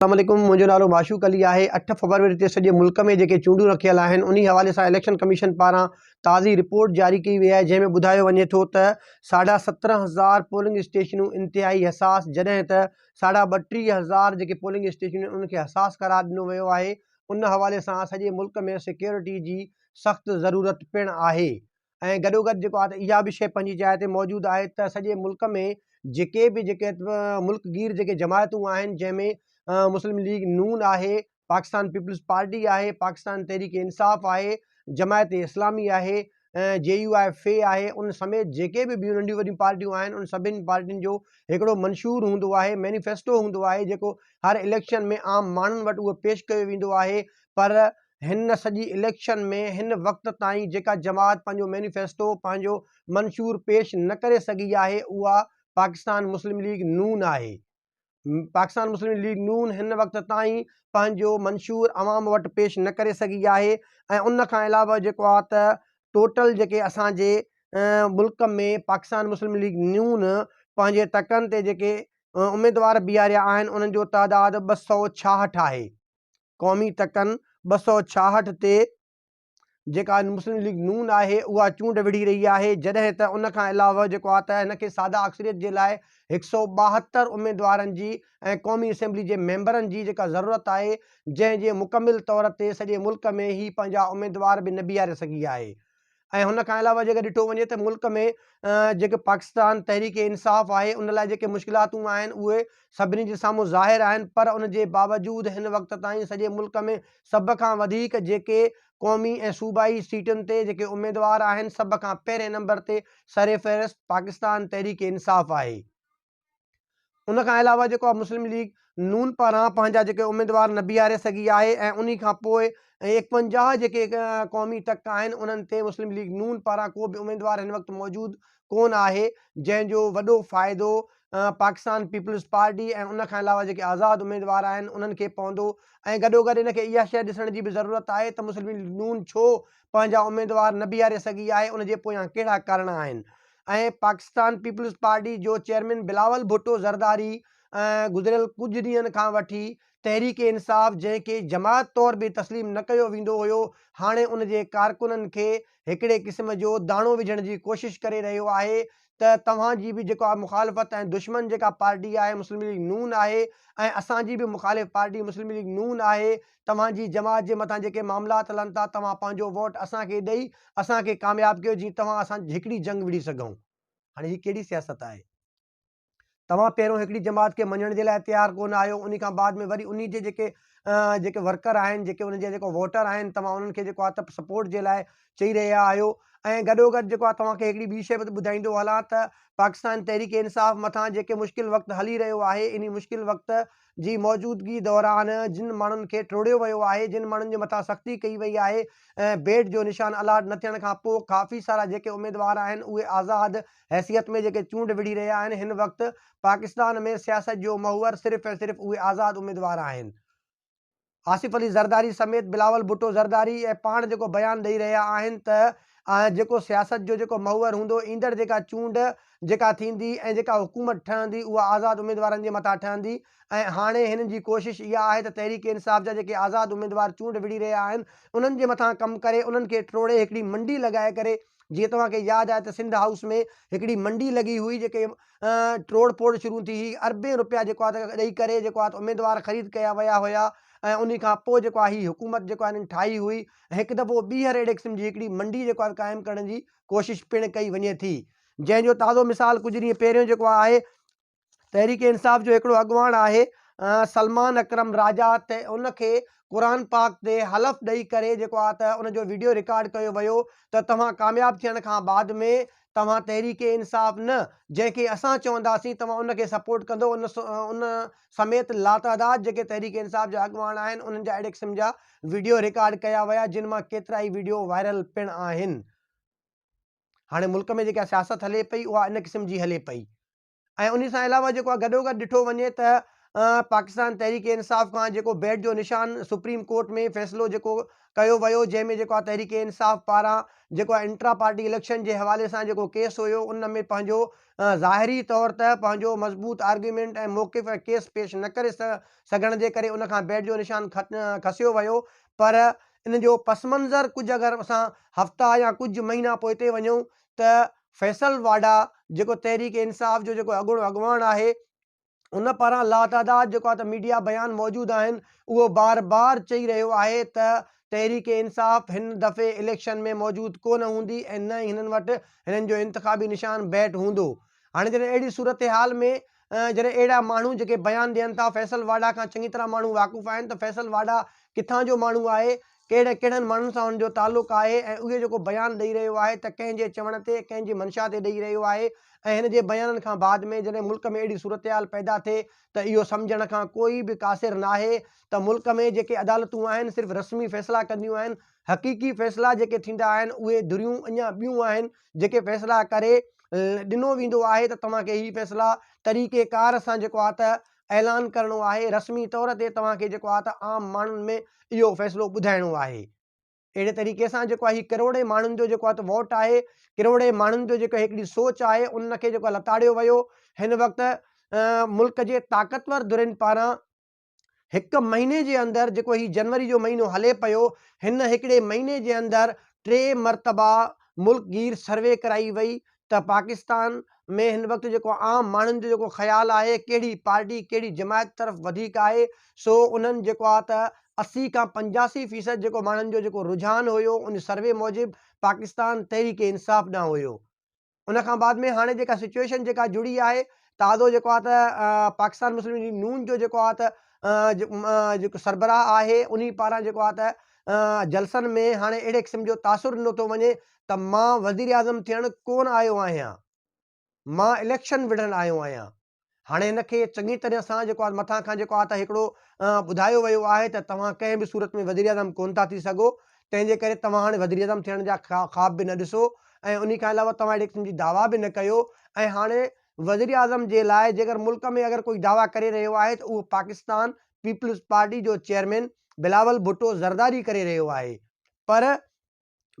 السلام عليڪم منهنجو نالو معشوق علي آهي اٺ فبروري تي سڄي ملڪ ۾ جيڪي چونڊون رکيل آهن انهي حوالي سان اليڪشن ڪميشن پاران تازي رپورٽ جاري ڪئي وئي آهي جنهن ۾ ٻڌايو وڃي ٿو ته ساڍا سترهن هزار پولنگ اسٽيشنون انتهائي حساس جڏهن ته ساڍا ٻٽيهه هزار جيڪي پولنگ اسٽيشنون آهن انهن کي حساس قرار ڏنو ويو آهي ان حوالي سان سڄي ملڪ ۾ سيڪيورٽي جي سخت ضرورت پڻ آهي ۽ گڏوگڏ جيڪو آهي اها به شيء پنهنجي جاء تي موجود آهي ته سڄي ملڪ ۾ جيڪي به جيڪي ملڪ گير جيڪي جماعتون آهن جنهن ۾ مسلم ليگ نون آهي، پاڪستان پيپلز پارٽي آهي، پاڪستان تحريڪ انصاف آهي، جماعت اسلامي آهي، جي يو آء في آهي ان سميت جيڪي به ٻيون ننڍيون وڏيون پارٽيون آهن ان سڀني پارٽين جو هڪڙو منشور هوندو آهي، مينيفيسٽو هوندو آهي جيڪو هر اليڪشن ۾ عام ماڻهن وٽ اهو پيش ڪيو ويندو آهي پر هن سڄي اليڪشن ۾ هن وقت تائين جيڪا جماعت پنهنجو مينيفيسٽو، پنهنجو منشور پيش نه ڪري سگهي آهي اها پاڪستان مسلم ليگ نون آهي. پاڪستان مسلم ليگ نون هن وقت تائين پنهنجو منشور عوام وٽ پيش نه ڪري سگهي آهي ۽ ان کان علاوه جيڪو آهي ته ٽوٽل جيڪي اسان جي ملڪ ۾ پاڪستان مسلم ليگ نون پنهنجي تڪن تي جيڪي اميدوار بيهاريا آهن انهن جو تعداد ٻه سؤ ڇاهٺ آهي. قومي تڪن ٻه سؤ ڇاهٺ تي جيڪا مسلم ليگ نون آهي اها چونڊ وڙهي رهي آهي جڏهن ته ان کان علاوه جيڪو آهي ته هن کي ساده اڪثريت جي لاء هڪ سؤ ٻاهتر اميدوارن جي ۽ قومي اسيمبلي جي ميمبرن جي جيڪا ضرورت آهي جنهن جي مڪمل طور تي سڄي ملڪ ۾ هي پنهنجا اميدوار به نه بيهاري سگهي آهي ۽ ان کان علاوه جيڪر ڏٺو وڃي ته ملڪ ۾ جيڪي پاڪستان تحريڪ انصاف آهي ان لاء جيڪي مشڪلاتون آهن اهي سڀني جي سامهون ظاهر آهن پر ان جي باوجود هن وقت تائين سڄي ملڪ ۾ سڀ کان وڌيڪ جيڪي قومي ۽ صوبائي سيٽن تي جيڪي اميدوار آهن سڀ کان پهرين نمبر تي سرفهرست پاڪستان تحريڪ انصاف آهي. ان کان علاوه جيڪو آ مسلم ليگ نون پاران پنهنجا جيڪي اميدوار نه بيهاري سگهي آهي ۽ انهي کان پوء ايڪونجاهه جيڪي قومي ٽڪ آهن انهن تي مسلم ليگ نون پاران ڪو به اميدوار هن وقت موجود ڪون آهي جنهن جو وڏو فائدو پاڪستان پيپلز پارٽي ۽ ان کان علاوه جيڪي آزاد اميدوار آهن انهن کي پوندو ۽ گڏوگڏ ان کي اها شيء ڏسڻ جي به ضرورت آهي ته مسلم ليگ نون ڇو پنهنجا اميدوار نه بيهاري سگهي آهي ان جي پويان ڪهڙا ڪارڻا آهن ۽ پاڪستان پيپلز پارٽي جو چيئرمين بلاول ڀٽو زرداري گذريل ڪجهه ڏينهن کان وٺي تحريڪ انصاف جنهن کي جماعت طور به تسليم نه ڪيو ويندو هيو هاڻي ان جي ڪارڪنن کي هڪڙي قسم جو داڻو وجهڻ جي ڪوشش ڪري رهيو آهي ته توهان جي به جيڪا مخالفت ۽ دشمن جيڪا پارٽي آهي مسلم ليگ نون آهي ۽ اسان جي به مخالف پارٽي مسلم ليگ نون آهي توهان جي جماعت جي مٿان جيڪي معاملات هلن ٿا توهان پنهنجو ووٽ اسان کي ڏئي اسان کي ڪامياب ڪيو جيئن توهان اسان هڪڙي جنگ وڙهي سگهون هاڻي هي ڪهڙي سياست آهي توهان پهريون هڪڙي جماعت کي مڃڻ جي لاء تيار ڪونه آهيو ان کان بعد ۾ وري انهي جي جيڪي جيڪي ورڪر آهن جيڪي ان جا جيڪو ووٽر آهن توهان انهن کي جيڪو آهي سپورٽ جي لاء چئي رهيا آهيو ۽ گڏو گڏ جيڪو آهي توهان کي هڪڙي ٻي شيء به ٻڌائيندو هلان ته پاڪستان تحريڪ انصاف مٿان جيڪي مشڪل وقت هلي رهيو آهي انهي مشڪل وقت جي موجودگي دوران جن ماڻهن کي ٽوڙيو ويو آهي، جن ماڻهن جي مٿان سختي ڪئي وئي آهي ۽ بيڊ جو نشان الاٽ نه ٿيڻ کان پوء ڪافي سارا جيڪي اميدوار آهن اهي آزاد حيثيت ۾ جيڪي چونڊ وڙهي رهيا آهن هن وقت پاڪستان ۾ سياست جو محور صرف ۽ صرف اهي آزاد اميدوار آهن. آصف علي زرداري سميت بلاول ڀٽو زرداري ۽ پاڻ جيڪو بيان ڏئي رهيا آهن ته اهي جيڪو سياست جو جيڪو محور هوندو، ايندڙ جيڪا چونڊ جيڪا ٿيندي ۽ جيڪا حڪومت ٺهندي اها آزاد اميدوارن جي مٿان ٺهندي ۽ هاڻي هنن جي ڪوشش اها آهي ته تحريڪ انصاف جا جيڪي آزاد اميدوار چونڊ وڙهي رهيا آهن انهن جي مٿان ڪم ڪري انهن کي ٽوڙي هڪڙي منڊي لڳائي ڪري جيئن توهان کي ياد آهي ته سنڌ هائوس ۾ هڪڙي منڊي لڳي هئي جيڪي ٽوڙ ڦوڙ شروع ٿي هي اربين روپيا جيڪو آهي ته ڏئي ڪري جيڪو آهي ته اميدوار خريد ڪيا ويا هيا ۽ انهي کان پوء جيڪو آهي هي حڪومت جيڪو آهي انهن ٺاهي هئي ۽ هڪ دفعو ٻيهر اهڙي قسم جي هڪڙي منڊي جيڪو آهي قائم ڪرڻ جي ڪوشش پڻ ڪئي وڃي ٿي جنهن جو تازو مثال ڪجهه ڏينهن پهريون جيڪو آهي تحريڪ انصاف جو هڪڙو اڳواڻ آهي سلمان اڪرم راجا ته ان کي قرآن پاڪ تي حلف ڏئي ڪري جيڪو آهي ته ان جو ويڊيو رڪارڊ ڪيو ويو ته توهان ڪامياب ٿيڻ کان بعد ۾ توهان تحريڪ انصاف نه جنهن کي اسان چونداسين توهان ان کي سپورٽ ڪندو ان ان سميت لاتعداد جيڪي تحريڪ انصاف جا اڳواڻ آهن انهن جا اهڙي قسم جا وڊيو رڪارڊ ڪيا ويا جن مان ڪيترائي وڊيو وائرل پڻ آهن هاڻي ملڪ ۾ جيڪا سياست هلي پئي اها ان قسم جي هلي پئي ۽ انهي سان علاوه جيڪو آ گڏوگڏ ڏٺو وڃي ته پاڪستان تحريڪ انصاف کان جيڪو بيٽ جو نشان سپريم ڪورٽ ۾ فيصلو جيڪو ڪيو ويو جنهن ۾ جيڪو آ تحريڪ انصاف پاران جيڪو آ انٽرا پارٽي اليڪشن جي حوالي سان جيڪو ڪيس هيو ان ۾ پنهنجو ظاهري طور ته پنهنجو مضبوط آرگيومينٽ ۽ موقف ۽ ڪيس پيش نه ڪري سگهڻ جي ڪري ان کان بيٽ جو نشان کسيو ويو پر ان جو پس منظر ڪجهه اگر اسان هفتا يا ڪجهه مهينا پوئتي وڃون ته فيصل واڍا جيڪو تحريڪ انصاف جو جيڪو اڳوڻو اڳواڻ آهي ان پاران لاتعداد جيڪو آهي ته ميڊيا بيان موجود آهن اهو بار بار چئي رهيو آهي ته تحريڪ انصاف هن دفعي اليڪشن ۾ موجود ڪونه هوندي ۽ نه ئي هنن وٽ هنن جو انتخابي نشان بيٽ هوندو هاڻي جڏهن اهڙي صورتحال ۾ جڏهن اهڙا ماڻهو جيڪي بيان ڏين ٿا فيصل واڍا کان چڱي طرح ماڻهو واقف آهن ته فيصل واڍا ڪٿان جو ماڻهو آهي، ڪهڙي ڪهڙن ماڻهن سان هن جو تعلق آهي ۽ اهي جيڪو بيان ڏئي رهيو آهي ته ڪنهن جي چوڻ تي ڪنهن جي منشا تي ڏئي رهيو آهي ۽ هن جي بيانن کان بعد ۾ جڏهن ملڪ ۾ اهڙي صورتحال پيدا ٿئي ته اهو سمجهڻ کان ڪوئي به قاصر ناهي ته ملڪ ۾ جيڪي عدالتون آهن صرف رسمي فيصلا ڪنديون آهن حقيقي فيصلا جيڪي ٿيندا آهن اهي ڌريون اڃا ٻيون آهن جيڪي فيصلا ڪري ڏنو ويندو آهي ته توهان کي هي فيصلا طريقي ڪار سان جيڪو آهي ته اعلان ڪرڻو آهي رسمي طور تي توهان کي جيڪو آهي ته عام ماڻهن ۾ اهو فيصلو ٻڌائڻو آهي اهڙي طريقي سان جيڪو آهي هي ڪروڙين ماڻهن جو جيڪو آهي ته ووٽ آهي ڪروڙين ماڻهن جو جيڪو هڪڙي سوچ آهي ان کي جيڪو لتاڙيو ويو هن وقت ملڪ جي طاقتور ڌرين پاران هڪ مهيني جي اندر جيڪو هي جنوري جو مهينو هلي پيو هن هڪڙي مهيني جي اندر ٽي مرتبا ملڪ گير سروي ڪرائي وئي ته پاڪستان ۾ هن وقت جيڪو عام ماڻهن جو جيڪو خيال آهي ڪهڙي پارٽي ڪهڙي جماعت طرف وڌيڪ آهي سو انهن جيڪو آ ته اسي کان پنجاسي فيصد جيڪو ماڻهن جو جيڪو رجحان هيو ان سروي موجب پاڪستان تحريڪ انصاف ڏانهن هيو ان کان بعد ۾ هاڻي جيڪا سچوئيشن جيڪا جڙي آهي تازو جيڪو آهي ته پاڪستان مسلم ليگ نون جو جيڪو آهي ته جيڪو سربراهه آهي ان پاران جيڪو آهي ته جلسن ۾ هاڻي اهڙي قسم جو تاثر ڏنو ٿو وڃي ته مان وزيراعظم ٿيڻ ڪونه آيو آهيان مان اليڪشن وڙهڻ آيو آهيان هاڻي هن کي چڱي طرح سان جيڪو آهي مٿان کان جيڪو آهي ته هڪڙو ٻڌايو ويو آهي ته توهان ڪنهن به صورت ۾ وزيراعظم ڪونه ٿا ٿي سگهو تنهن جي ڪري توهان هاڻي وزيراعظم ٿيڻ جا خواب به نه ڏسو ۽ انهي کان علاوه توهان اهڙي قسم جي دعويٰ به نه ڪيو ۽ هاڻي وزيراعظم جي لاء جيڪر ملڪ ۾ اگر ڪوئي دعويٰ ڪري رهيو آهي ته اهو پاڪستان پيپلز پارٽي جو چيئرمين بلاول ڀٽو زرداري ڪري رهيو آهي پر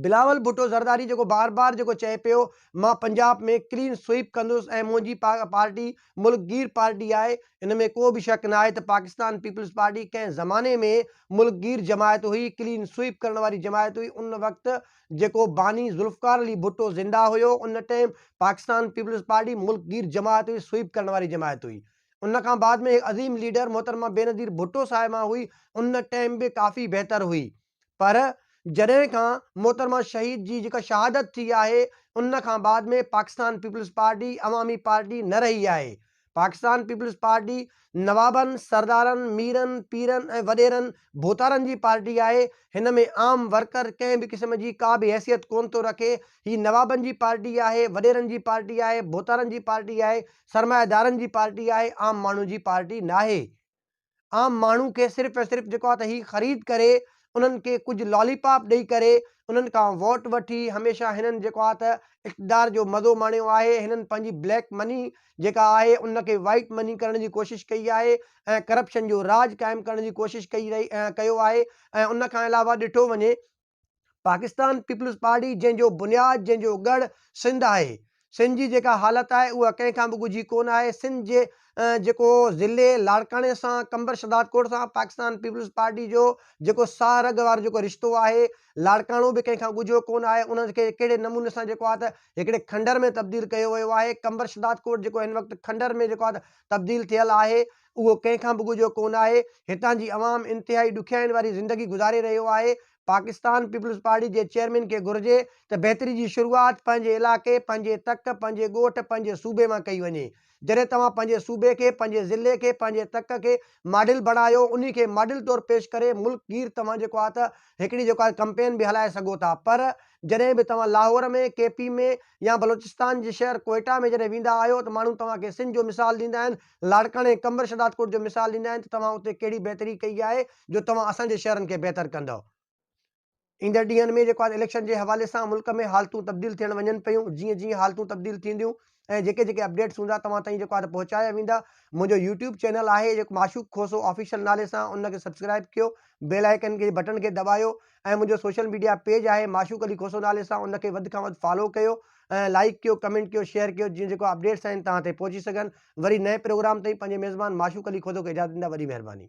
بلاول ڀٽو زرداري جيڪو بار بار جيڪو چئي پيو مان پنجاب ۾ ڪلين سوئيپ ڪندس ۽ منهنجي پارٽي ملڪ گير پارٽي آهي ان ۾ ڪو به شڪ ناهي ته پاڪستان پيپلز پارٽي ڪنهن زماني ۾ ملڪ گير جماعت هئي ڪلين سوئيپ ڪرڻ واري جماعت هئي ان وقت جيڪو باني ذوالفقار علي ڀٽو زنده هيو ان ٽائيم پاڪستان پيپلز پارٽي ملڪ گير جماعت هئي سوئيپ ڪرڻ واري جماعت هئي ان کان بعد ۾ هڪ عظيم ليڊر محترمه بينظير ڀٽو صاحبه هئي ان ٽائيم به ڪافي بهتر هئي پر جڏهن کان محترمه شهيد جي جيڪا شهادت ٿي آهي ان کان بعد ۾ پاڪستان پيپلز پارٽي عوامي پارٽي نه رهي آهي، پاڪستان پيپلز پارٽي نوابن، سردارن، ميرن، پيرن ۽ وڏيرن ڀوتارن جي پارٽي آهي، هن ۾ عام ورڪر ڪنهن به قسم جي ڪا به حيثيت ڪونه ٿو رکي، هي نوابن جي پارٽي آهي، وڏيرن جي پارٽي آهي، ڀوتارن جي پارٽي آهي، سرمائيدارن جي پارٽي آهي، عام ماڻهو جي پارٽي ناهي. عام ماڻهو کي صرف ۽ صرف جيڪو آهي ته هي خريد ڪري انهن کي ڪجهه لالي پاپ ڏئي ڪري انهن کان ووٽ وٺي هميشه هنن جيڪو آهي ته اقتدار جو مزو ماڻيو آهي هنن پنهنجي بليڪ مني جيڪا آهي ان کي وائيٽ مني ڪرڻ جي ڪوشش ڪئي آهي ۽ ڪرپشن جو راڄ قائم ڪرڻ جي ڪوشش ڪئي رهي ڪيو آهي ۽ ان کان علاوه ڏٺو وڃي پاڪستان پيپلز پارٽي جنهن جو بنياد جنهن جو ڳڙ سنڌ آهي سنڌ جي جيڪا حالت آهي اها ڪنهن کان به ڳجهي ڪونه آهي سنڌ جي جيڪو ضلعي لاڙڪاڻي سان قمبر شهداد ڪوٽ سان پاڪستان پيپلز پارٽي جو جيڪو ساهه رڳ وارو جيڪو رشتو آهي لاڙڪاڻو به ڪنهن کان ڳجهو ڪونه آهي انهن کي ڪهڙي نموني سان جيڪو آهي هڪڙي کنڊر ۾ تبديل ڪيو ويو آهي قمبر شهداد ڪوٽ جيڪو هن وقت کنڊر ۾ جيڪو آهي تبديل ٿيل آهي اهو ڪنهن کان به ڳجهو ڪونه آهي، هتان جي عوام انتهائي ڏکيائين واري زندگي گذاري رهيو آهي، پاڪستان پيپلز پارٽي جي چيئرمين کي گهرجي ته بهتري جي شروعات پنهنجي علائقي، پنهنجي تڪ، پنهنجي ڳوٺ، پنهنجي صوبي مان ڪئي وڃي، جڏهن توهان پنهنجي صوبي کي، پنهنجي ضلعي کي، پنهنجي تڪ کي ماڊل بڻايو، انهي کي ماڊل طور پيش ڪري ملڪ گير توهان جيڪو آهي ته هڪڙي جيڪو آهي ڪمپين به هلائي سگهو ٿا پر جڏهن به توهان لاهور ۾ ڪي پي ۾ يا بلوچستان جي شهر ڪوئيٽا ۾ جڏهن ويندا آهيو ته ماڻهو توهان کي سنڌ جو مثال ڏيندا آهن لاڙڪاڻي ۽ قمبر شھدادڪوٽ جو مثال ڏيندا آھن ته توھان اتي ڪھڙي بھتري ڪئي آھي جو توھان اسان جي شھرن کي بھتر ڪندؤ. ايندڙ ڏينھن ۾ جيڪو آھي اليڪشن جي حوالي سان ملڪ ۾ حالتون تبديل ٿيڻ وڃن پيون جيئن جيئن حالتون تبديل ٿينديون ۽ جيڪي جيڪي اپڊيٽس ھوندا توھان تائين جيڪو آھي ته پهچايا ويندا منھنجو يوٽيوب چينل آھي جيڪو معشوق کوسو آفيشل نالي سان ان کي سبسڪرائب ڪيو بيل آئيڪن جي بٽڻ کي دٻايو ۽ منهنجو سوشل ميڊيا پيج آهي معشوق علي کوسو نالي سان ان کي وڌ کان وڌ فالو ڪيو ۽ لائيڪ ڪيو ڪمينٽ ڪيو شيئر ڪيو جيئن جيڪو اپڊيٽس آهن توهان تائين پهچي سگهن وري نئين پروگرام تائين پنهنجي ميزبان معشوق علي کوسو کي اجازت ڏيندا وڏي مهرباني.